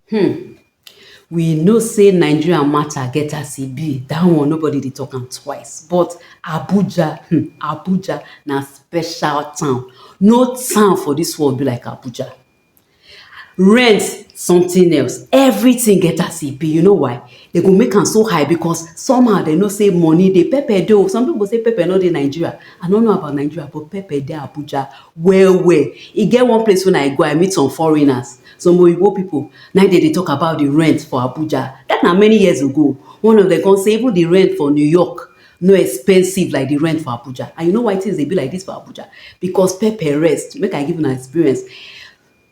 Hmm. We know say Nigeria matter get as e be, that one nobody dey talk am twice. But Abuja, hmm, Abuja na special town. No town for this world be like Abuja. Rent something else, everything get as e be. You know why? They go make am so high because somehow they know say money dey pepper dey o some people go say pepper no dey Nigeria I no know about Nigeria but pepper dey Abuja well well e get one place when I go I meet some foreigners some oyibo people na im dem dey talk about the rent for Abuja that na many years ago one of them come say even the rent for New York no expensive like the rent for Abuja and you know why things dey be like this for Abuja because pepper rest make I give una experience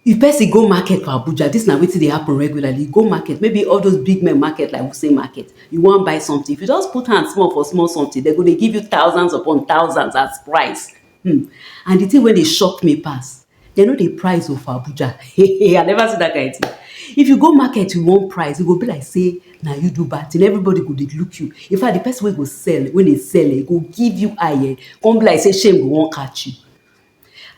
If person go market for Abuja, dis na wetin dey happen regularly, you go market, maybe all those big men market like Wuse market, you wan buy something, if you just put hand small for small something, dem go dey give you thousands upon thousands as price. Hmmm, and the thing wey dey shock me pass, dem no dey price o for Abuja, I never see that kind thing. If you go market you wan price, e go be like say na you do bad thing, everybody go dey look you, in fact, the person wey go sell, wey dey sell, e go give you eye, e come be like say shame go wan catch you.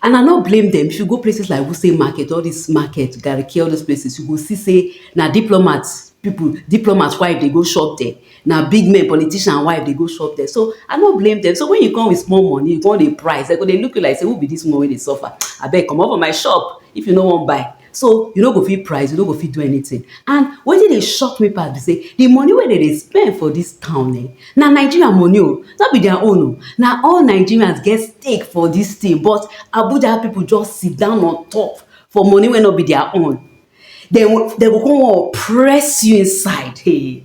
And I no blame dem, if you go places like Wuse market, all dis market, Garki, all those places, you go see say na diplomat people, diplomat wife dey go shop there, na big men, politician wife dey go shop there. So I no blame dem. So when you come with small money, you come dey price, dem go dey look you like say who be dis woman wey dey suffer? Abeg comot for my shop if you no wan buy. so you no go fit price you no go fit do anything and wetin dey shock me pass be say the money wey dem dey spend for this town eh na Nigeria money o no be their own o na all Nigerians get stake for this thing but Abuja people just sit down on top for money wey no be their own dem go dem go come wan oppress you inside hey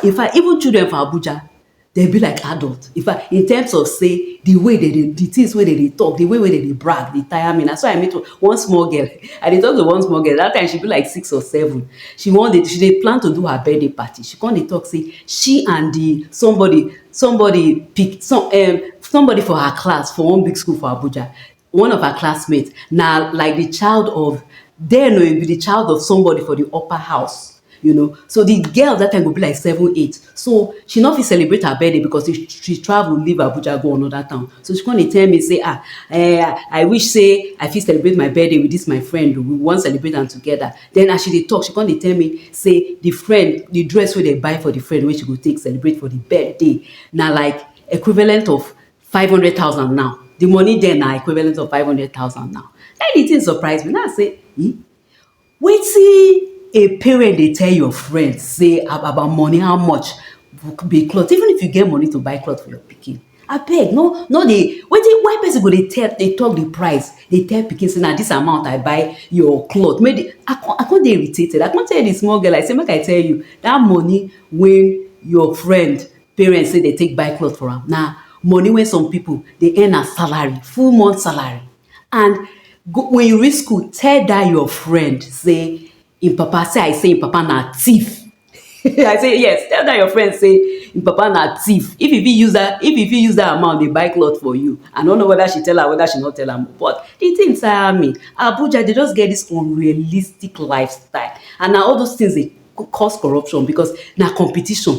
infact even children for Abuja dem be like adult. In fact, in terms of say the way they dey, the things wey they dey talk, the way wey they dey brag, dey tire me. Na so I meet one small girl. I dey talk to one small girl. That time she be like six or seven. She wan dey, she dey plan to do her birthday party. She come dey talk say she and the somebody, somebody pick some um somebody for her class for one big school for Abuja. One of her classmates na like the child of then o, e be the child of somebody for the upper house, you know, so the girl that time go be like seven, eight, so she no fit celebrate her birthday because she she travel leave Abuja go another town, so she come dey tell me say ah eh, I wish say I fit celebrate my birthday with this my friend o, we wan celebrate am together, then as she dey talk she come dey tell me say the friend, the dress wey dem buy for the friend wey she go take celebrate for the birthday na like equivalent of five hundred thousand now the money there na equivalent of five hundred thousand now na the thing surprise me na say hmm wetin a parent dey tell your friend say about money how much be cloth even if you get money to buy cloth for your pikin abeg no no dey wetin why person go dey tell dey talk the price dey tell pikin say na this amount I buy your cloth make the I come I come dey irritated I come tell the small girl I say make I tell you that money wey your friend parents say dem take buy cloth for am na money wey some people dey earn as salary, full month salary and when you reach school tell dat your friend sey im papa say I say im papa na thief I say yes tell dat your friend say im papa na thief if e fit use dat if e fit use dat amount dey buy cloth for you I no know whether she tell am whether she no tell am but de thing tire me Abuja dey just get dis unrealistic lifestyle and na all those things dey go cause corruption because na competition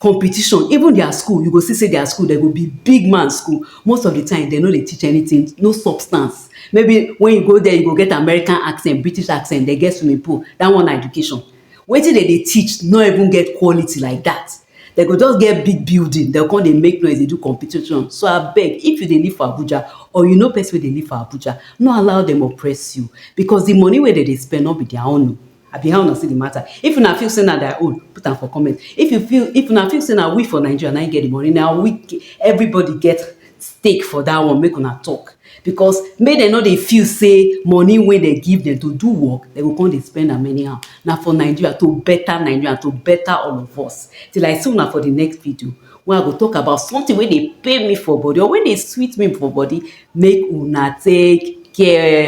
competition even their school you go see say their school dem go be big man school most of the time dem no dey teach anything no substance maybe when you go there you go get American accent British accent dem get swimming pool that one na education wetin dem dey teach no even get quality like that dem go just get big building dem go come dey make noise dey do competition so abeg if you dey live for Abuja or you know person wey dey live for Abuja no allow dem oppress you because the money wey dem dey spend no be their own oo Abi how una see the matter? If una feel say na their own, put am for comment. If you feel if una feel say na we for Nigeria na get the money, na we everybody get stake for that one make una talk because make dem no dey feel say money wey dem give dem to do work dem go come dey spend am anyhow na for nigeria to better nigeria to better all of us till i see una for the next video wey i go talk about something wey dey pain me for body or wey dey sweet me for body make una take care.